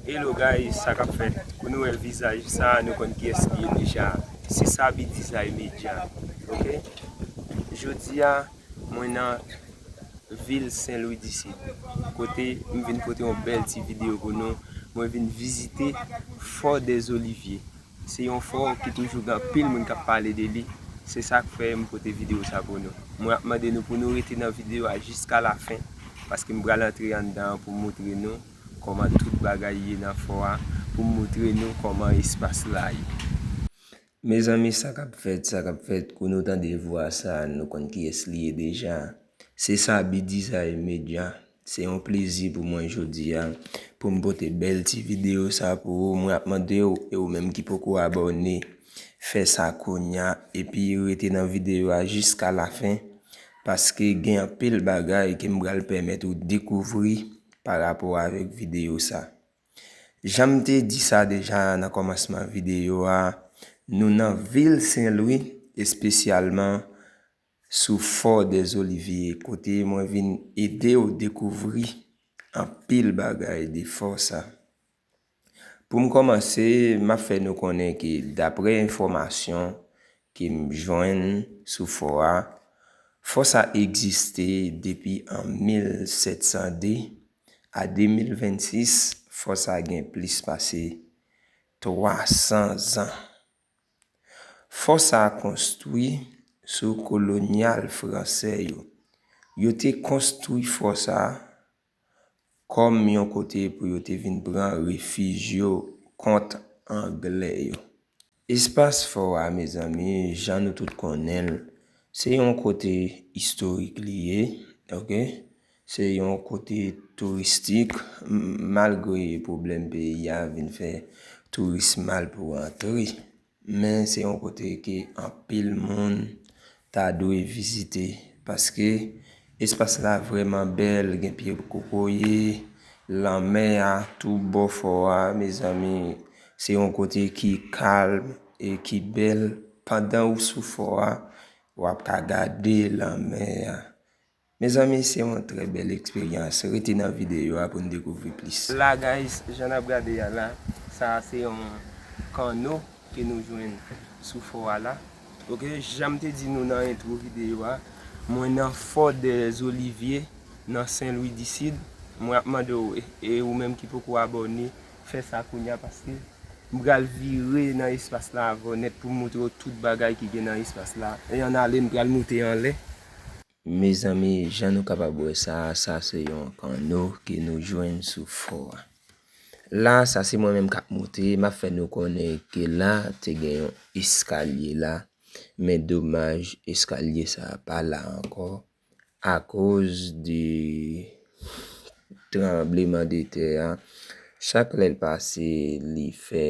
Hello guys sa kap fèt kou nou wè vizaj sa nou konn kiyès li ye deja se Saby Dizay Media ok jodia mwen nan vil senlwi disid kote m vin pote yon bèl ti video pou nou mwen vin vizite fò dèzolivye se yon fò ki toujou gen anpil moun kap pale de li se sak fè m pote video sa pou nou mwen ap mande nou pou nou rete nan video a jiska lafen paske m pral antre anndan pou m moutre nou. kòman tout bagay ye nan fò a pou m moutre nou kòman espas la ye. Mezanmi sa k ap fèt, sa k ap fèt kou nou tande vwa sa a nou konn kiyès li ye deja. Se Saby Dizay Medya, se yon plezi pou mwen jodi a pou m pote bèl ti videyo sa a pou ou. Mwen ap mande w e ou menm ki poko abòne, fè sa kounya epi rete nan videyo a jiska lafen paske gen anpil bagay ke m pral pèmèt ou dekouvri Pa rapò avèk videyo sa. Jan m te di sa deja nan kòmansman videyo a, nou nan vil Senlwi, espesyalman sou Fò Dèzolivye, kote mwen vin ede w dekouvri anpil bagay de fò sa. Pou m kòmanse, m ap fè nou konnen ke daprè enfòmasyon ke m jwenn sou fò a, fò sa egziste depi an 1702, a 2026 fò sa gen plis pase 300 zan. Fò sa konstwi sou kolonyal fransè yo. Yo te konstwi fò sa. Kòm yon kote pou yo te vin pran refij yo kont Anglè yo. Espas fò a, mezanmi, jan nou tout konnen l, se yon kote istorik li ye, ok, se yon kote touristik, malgre pwoblèm peyi a vin fè touris mal pou antre. Men se yon kote ke anpil moun ta dwe vizite paske espas la vreman bèl gen pye kokoye, lanmè a tou bò fò a mezanmi se yon kote ki kalm e ki bèl pandan ou sou fò a wap ka gade lanmè a. Mezanmi se yon trè bèl eksperyans, rete nan videyo a pou n dekouvri plis. La guys, jan nap gade a la, sa a se yon kanno ke nou jwenn sou fò a la. Ok, janm te di nou nan entwo videyo a, mwen nan fò dè zolivye nan sen lwi di sid, mwen ap mande w, e ou menm ki poko abòne, fè sa kounya paske m pral vire nan espas la avè w nèt pou m moutre w tout bagay ki gen nan espas la, e an ale m pral moute anlè. Mezanmi jan nou kapab wè sa, sa se yon panno ke nou jwenn sou fò a. La sa se mwen menm kap moute, map fè nou konnen ke la te gen yon eskalye la, men domaj eskalye sa pa la ankò akoz de tranbleman de tè a, chak lèl pase li fè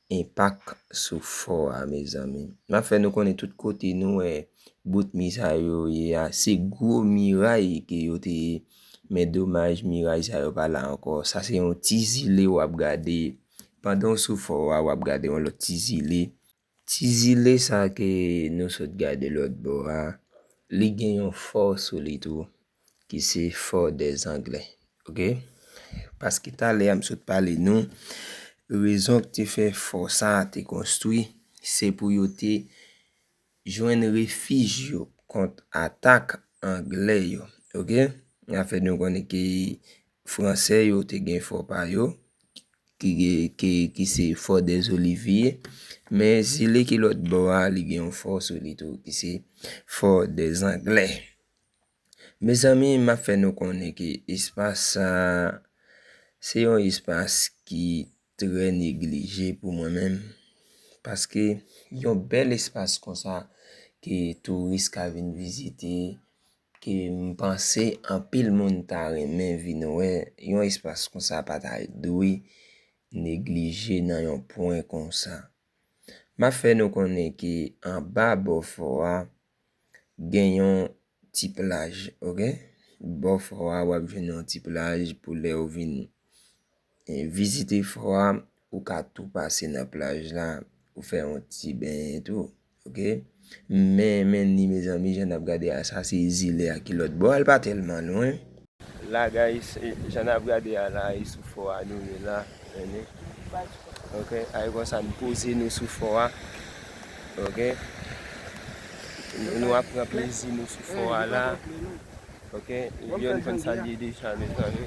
Enpak sou fò a mezanmi. Map fè nou konnen tout kote nou wè bout mi sa yo ye a se gwo miray ke yo te ye men domaj miray sa yo pa la ankò sa se yon ti zile wap gade pandan w sou fò a wap gade yon lòt ti zile ti zile sa ke nou sot gade lòt bò a li gen yon fò sou li tou ki se for des anglais ok paske talè a m sot pale nou rezon k te fè fò sa a te konstwi se pou yo te jwenn refij yo kont atak anglè yo ok n a fè nou konnen ke fransè yo te gen fò pa yo ki se for des oliviers men zile ki lòt bò a li gen yon fò sou li tou ki se for des anglais Mezanmi m ap fè nou konnen ke espas sa a, se yon espas ki trè neglije pou mwen menm. Paske yon bèl espas konsa ke touris ka vin vizite, ke m panse anpil moun ta renmen vin wè, yon espas konsa pa ta dwe neglije nan yon pwen konsa. M ap fè nou konnen ke anba bò fò a. gen yon ti plaj ok bò fò a wap jwenn yon ti plaj pou lè ou vin e vizite fò a ou ka tou pase nan plaj la ou fè yon ti benyen tou ok men men ni mezanmi jan nap gade a sa se zile a ki lòt bò a l pa tèlman lwen. La guys jan nap gade a la e sou fò a nou ye la ene ok ay konsa nou poze nou sou fò a ok nou ap pran plezi nou sou fò a la ok yon konn sa liye deja mezanmi.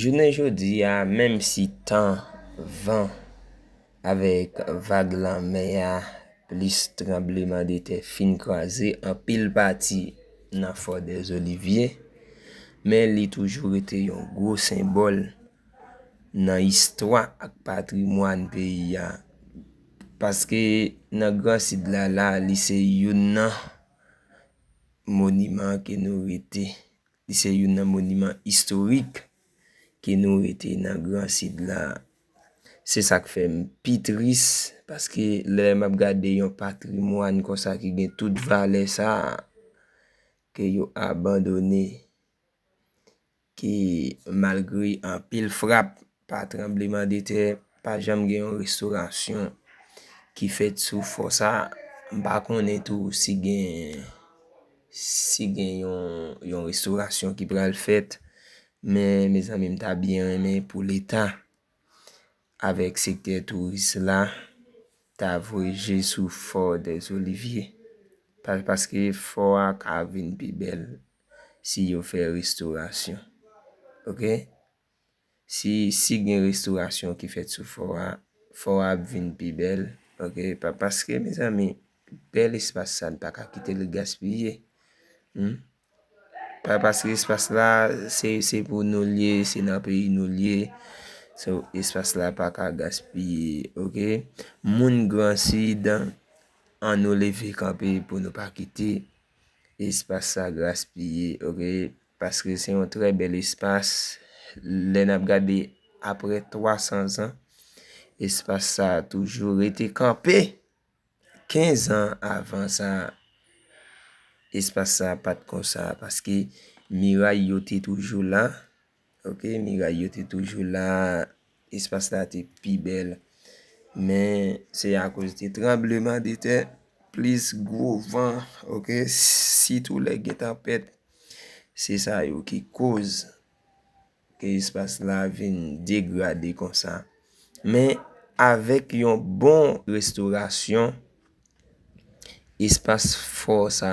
Jounen jodi a, menm si tan, van, avèk vag lanmè a plis tranblemandetè fin kraze anpil pati nan Fò Dèzolivye, men li toujou rete yon gwo senbòl nan istwa ak patrimwàn peyi a. Paske nan Gran Sid la, la li se youn nan moniman ke nou rete Li se youn nan moniman istorik ke nou rete nan gran sid la. Se sa k fè m pi tris paske lè m ap gade yon patrimwàn konsa ki gen tout valè sa a ke yo abandone, ke malgre anpil frap Pa tranbleman de tè, pa janm gen yon restorasyon ki fèt sou fò sa. M pa konnen tou si gen si gen yon restorasyon ki pral fèt. Men mezanmi m ta byen renmen pou leta avèk sektè touris la ta voye je sou fò dèzolivye. Paske fò a ka vin pi bèl si yo fè restorasyon. Ok. Si si gen restaurasyon ki fèt sou fò a, fò a ap vin pi bèl ok pa paske mezanmi bèl espas sa n pa ka kite l gaspiye humm pa paske espas la se se pou nou l ye se nan peyi nou l ye so espas la pa ka gaspiye ok moun gran sid an nou leve kanpe pou nou pa kite espas sa gaspiye ok. Paske se yon trè bèl espas. Lè n ap gade aprè 300 zan, espas sa a toujou rete kanpe! 15 an avan sa, espas sa a pa t konsa paske miray yo te toujou la. Ok, miray yo te toujou la. espas la te pi bèl. Men, se akoz de tranbleman de tè, plis gwo van, ok, sitou lè gen tanpèt, se sa yo ki koz ke espas la vin degrade konsa. Men, avèk yon bon restorasyon, Espas fò sa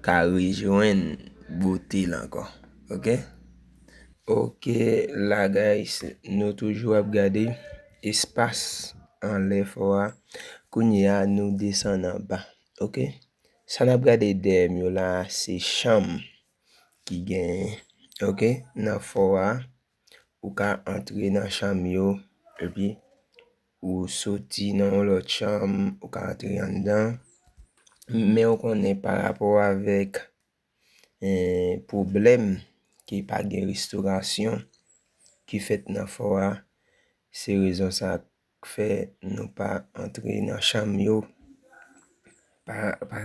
ka rejwenn bote l ankò. Ok. Ok la guys. Nou toujou ap gade espas anlè fò a. Kounye a nou desann anba. Ok. Sa n ap gade dèyè m yo la se chanm ki gen ok nan fò a. Ou ka antre nan chanm yo, epi ou soti nan yon lòt chanm, ou ka antre anndan. Men ou konnen pa rapò avèk pwoblèm ki pa gen restorasyon ki fèt nan fò a, se rezon sa K fè nou pa antre nan chanm yo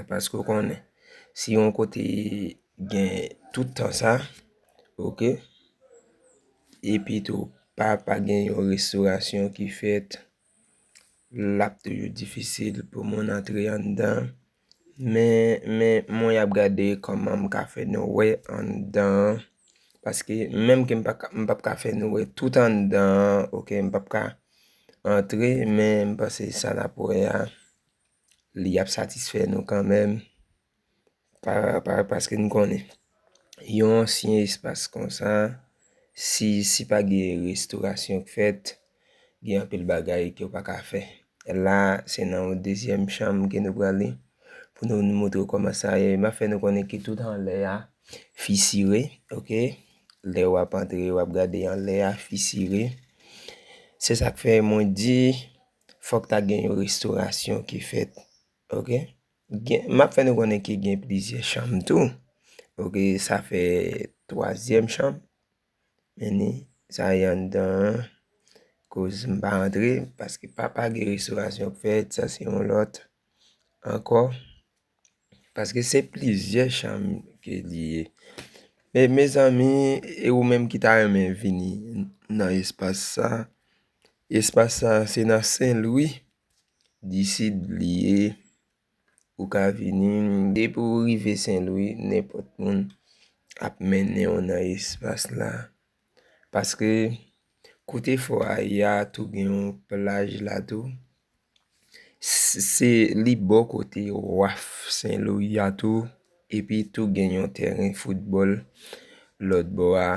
paske ou konnen si yon kote gen tout tan sa ok epi tou pa pa gen yon restorasyon ki fèt l ap toujou difisil pou moun antre anndan. Men men mwen ap gade kòman m ka fè nou wè anndan an paske menm ke m pa ka m p ap ka fè nou wè tout anndan an ok m p ap ka antre men m panse sa n ap wè a li ap satisfè nou kanmèm pa paske n konnen. yon ansyen espas konsa, si si pa gen restorasyon k fèt, gen anpil bagay ke w pa ka fè. La, se nan yon dezyèm chanm ke nou prale, pou nou nou montre w kòman sa ye. M ap fè nou konnen ke tout anlè a fisire, ok. Lè w ap antre, w ap gade anlè a fisire. Se sa k fè mwen di, fòk ta gen yon restorasyon ki fèt, ok. Gen, m ap fè nou konnen ke gen plizyè chanm tou. Ok, sa fè twazyèm chanm. Meni, sa y anndan an. Koz m pa rantre, paske papa gen restorasyon pou fèt, sa se yon lòt ankò. Paske se plizyè chanm ke li ye. E mezanmi, e ou menm ki ta renmen vini nan espas sa, espas sa se nan Sen Lwi. D'ici li ye, ou ka vini. Depi ou rive Senlwi, nenpòt moun ap mennen ou nan espas la. Paske, kote fò a ye a tou gen yon plaj la tou. Se li bò kote waf Senlwi a tou. Epi tou gen yon tèren foutbòl lòt bò a.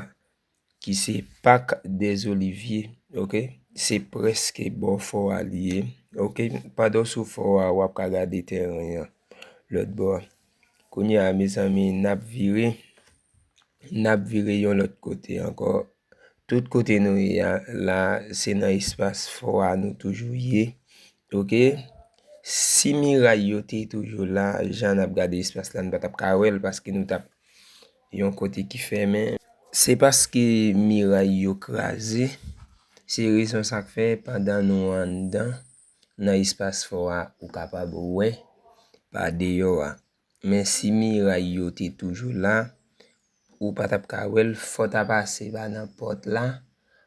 Ki se Pak des Oliviers ok. Se prèske bò fò a li ye ok. Pandan w sou fò a, w ap ka gade tèren an lòt bò a. Kounye a mezanmi, n ap vire, n ap vire yon lòt kote ankò. Tout kote nou ye a la, se nan espas fò a nou toujou ye ok. Si miray yo te toujou la, jan n ap gade espas la, n pa t ap ka wè l paske nou t ap. Yon kote ki fèmen. Se paske miray yo kraze, se rezon sa k fè pandan nou anndan nan espas fò a ou kapab wè pa deyò a. Men si miray yo te toujou la, ou pa t ap ka wè l, fò w ta pase pa nan pòt la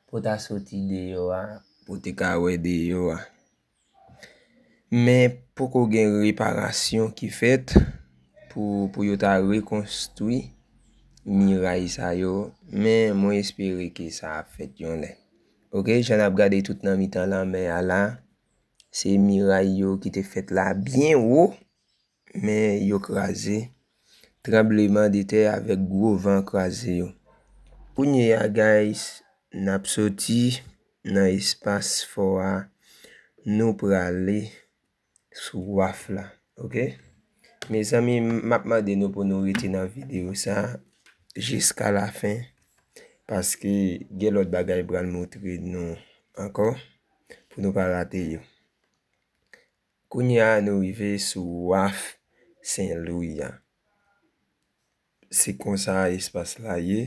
pou w ta soti deyò a pou w te ka wè deyò a. Men poko gen reparasyon ki fèt pou yo ta rekonstwi miray sa yo men mwen espere ke sa ap fèt yon lè. Ok jan nap gade tout nan mitan lanmè a la se miray yo ki te fèt la byen wo. Men yo kraze, tranbleman de tè avèk gwo van kraze yo. Kounye a guys nap soti nan espas fò a nou prale sou waf la ok mezanmi map mande nou pou nou rete nan video sa jiska la fen paske gen lòt bagay pral moutre nou ankò pou nou pa rate yo Kounye a nou rive sou waf Sen Lwi a. Se konsa espas la ye.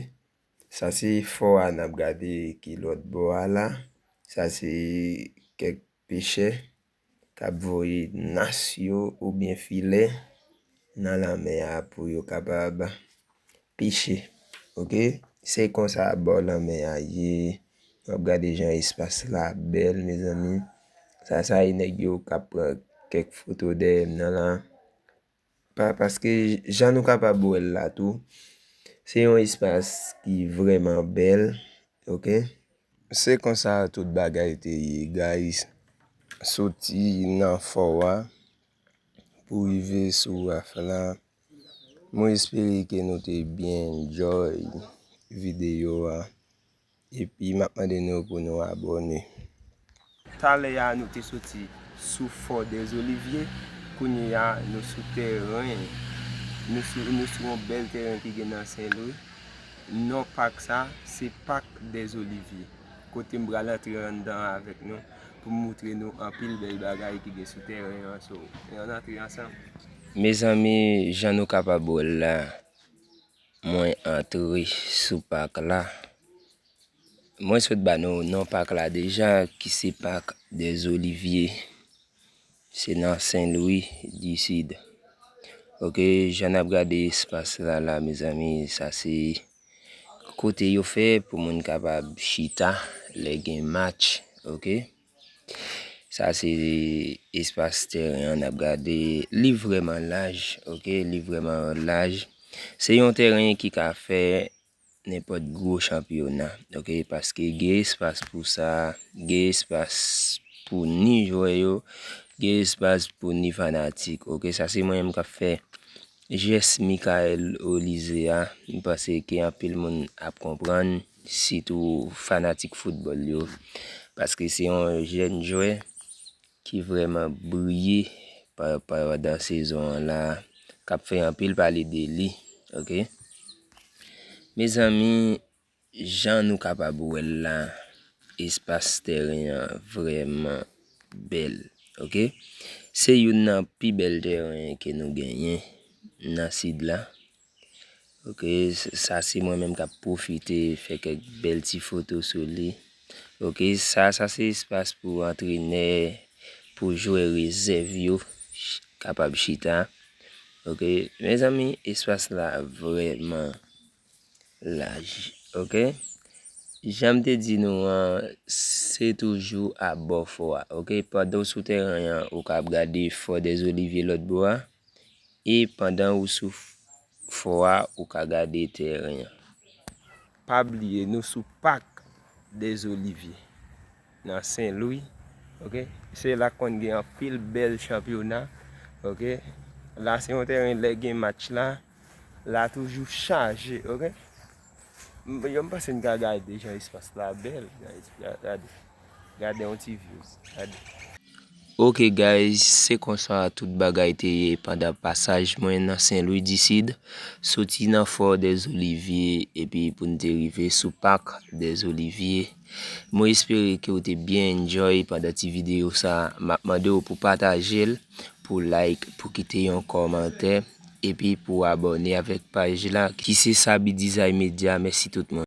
Sa se fò a n ap gade ki lòt bò a la. Sa se kèk pechè k ap voye nas yo oubyen filè nan lanmè a pou yo kapab Piche ok se konsa bò lanmè a ye wap gade jan espas la bèl mezanmi sa sa ye nèg yo kap pran kèk foto dèyè m nan la pa paske jan nou kapab wè l la tou se yon espas ki vrèman bèl ok. Se konsa tout bagay te ye guys soti nan fò a pou rive sou raf la. Mwen espere ke nou te byen enjoy video a epi map mande nou pou nou abone. Talè a nou te soti sou Fort des Oliviers, kounye a nou sou tèren, nou sou yon bèl tèren ki gen nan Sen Lwi. Non pak sa, se Parc des Oliviers, kote m pral antre anndan avèk nou pou m moutre nou anpil bèl bagay ki gen sou tèren an, so an antre ansanm. Mezanmi jan nou kapab wèl la mwen antre sou pak la mwen sot ba nou non pak la deja ki se pak des oliviers se nan sen lwi di sid ok jan nap gade espas la la mezanmi sa se kote yo fè pou moun kapab chita lè gen match ok. Sa se espas teren an nap gade li vreman laj ok li vreman laj se yon teren ki ka fè nenpòt gwo chanpyona ok paske gen espas pou sa gen espas pou ni jwè yo gen espas pou ni fanatik ok sa se mwen menm kap fè jès Mikayèl Olize a m panse ke anpil moun ap konprann. sitou fanatik foutbòl yo, paske se yon jèn jwè ki vrèman briye pandan sezon an la, k ap fè anpil pale de li ok. Mezanmi jan nou kapab wè l la espas tèren an vrèman bèl ok, se youn nan pi bèl tèren ke nou genyen nan sid la. Ok sa se mwen menm kap pwofite fè kèk bèl ti foto sou li. Ok sa sa se espas pou antrenè, pou jwè rezèv yo kapab chita. Ok mezanmi espas la vrèman laj ok. Janm te di nou an se toujou abò fò a ok pandan ou sou tèren an ou kab gade fò dèzolivye lòt bò a. E pandan ou sou fò a ou ka gade tèren an. Pa bliye nou sou Pak des Oliviers nan Sen Lwi ok. Se la konn gen anpil bèl chanpyona ok. La se yon tèren lè gen match la. la toujou chaje ok yo m pase n ka gade jan espas la bel guys gade gade yon ti views gade ok guys se konsa tout bagay te ye pandan pasaj mwen nan sen lwi di sid soti nan fò de zolivye epi pou n te rive sou pak de zolivye mwen espere ke ou te byen enjoy pandan ti video sa map mande ou pou pataje l pou like pou kite yon komante Epi pou abòne avèk paj la ki se Saby Design Media mèsi tout moun.